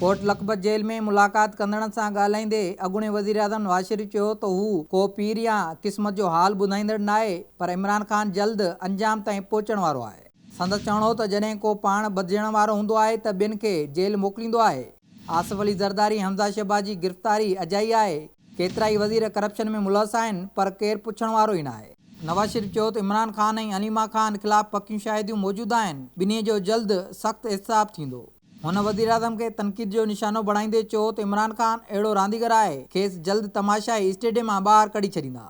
ڪوٽ Lakhpat jail ۾ ملاقات ڪندڙن سان ڳالهائيندي اڳوڻي وزيراعظم نواز شريف چيو ته هو ڪو پير يا قسمت جو حال ٻڌائيندڙ ناهي پر عمران خان جلد انجام تائين پهچڻ وارو آهي. سندس چوڻ هو ته جڏهن ڪو پاڻ ٻڌجڻ وارو هوندو آهي ته ٻين کي جيل موڪليندو آهي. آصف علي زرداري، حمزه شهباز جي گرفتاري اجائي آهي، ڪيترائي وزير ڪرپشن ۾ ملوث آهن پر ڪير پڇڻ وارو ئي ناهي. نواز شريف چيو ته عمران خان ۽ عليما خان خلاف پڪيون شاهديون موجود آهن، ٻنهي جو جلد سخت احتساب ٿيندو. هن وزيراعظم کي تنقيد جو نشانو بڻائيندي چيو ته عمران خان اهڙو رانديگر آهي، کيس جلد تماشائي اسٽيڊيم مان ٻاهر ڪڍي ڇڏيندا.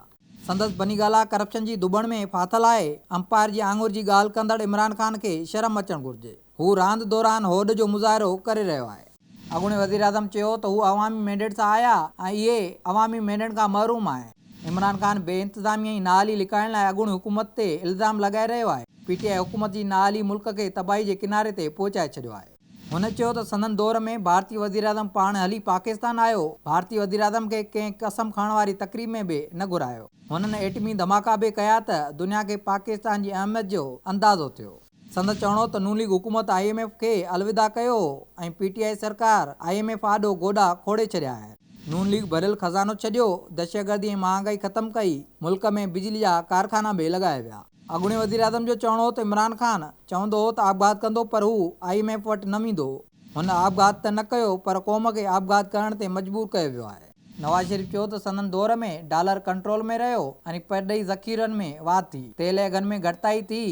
سندس بني گالا ڪرپشن جي ڌٻڻ ۾ ڦاٿل آهي، امپائر جي آڱر جي ڳالهه ڪندڙ عمران خان کي شرم اچڻ گهرجي، هو راند دوران هوڏ جو مظاهرو ڪري رهيو آهي. اڳوڻي وزيراعظم چيو ته هو عوامي مينڊيٽ سان آيا ۽ اهي عوامي مينڊيٽ کان محروم آهن. عمران خان بي انتظامي ۽ نااهلي لڪائڻ لاء اڳوڻي حڪومت تي الزام لڳائي رهيو آهي، پي ٽي آء حڪومت جي نااهلي ملڪ کي تباهي جي ڪناري تي پهچائي ڇڏيو آهي. هن چيو ته سندن دور ۾ ڀارتي وزيراعظم پاڻ هلي پاڪستان آيو، ڀارتي وزيراعظم کي ڪنهن قسم کڻڻ واري تقريب ۾ به نه گهرايو، هنن ايٽمي ڌماڪا به ڪيا ته دنيا کي پاڪستان جي اهميت جو اندازو ٿيو. سندس چوڻ هو ته نون ليگ حڪومت آء ايم ايف کي الوداع ڪيو ۽ پي ٽي آء سرڪار آء ايم ايف آڏو گوڏا کوڙي ڇڏيا آهن، نون ليگ ڀريل خزانو ڇڏيو، دهشتگردي ۽ مهانگائي ختم ڪئي، ملڪ ۾ بجلي جا ڪارخانا به لڳايا ويا. اڳوڻي وزيراعظم جو چوڻ هو ته عمران خان چوندو هو ته آپگهات ڪندو پر هو آء ايم ايف وٽ نه ويندو، هن آپگهات ته نه ڪيو پر قوم کي آپگهات ڪرڻ تي مجبور ڪيو ويو آهي. نواز شريف چيو ته سندن دور ۾ ڊالر ڪنٽرول ۾ رهيو ۽ پرڏيهي ذخيرن ۾ واڌ ٿي، تيل جي اگهن ۾ گهٽتائي ٿي،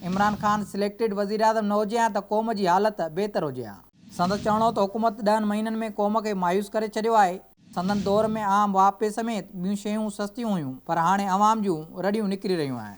عمران خان سليڪٽيڊ وزيراعظم نه هجي ها ته قوم جي حالت بهتر هجي ها. سندس چوڻ هو ته حڪومت ڏهن مهينن ۾ قوم کي مايوس ڪري ڇڏيو آهي. سندن دور ۾ عام واهپي سميت ٻيون شيون سستيون هيون پر هاڻي عوام جون رڙيون نڪري رهيون آهن.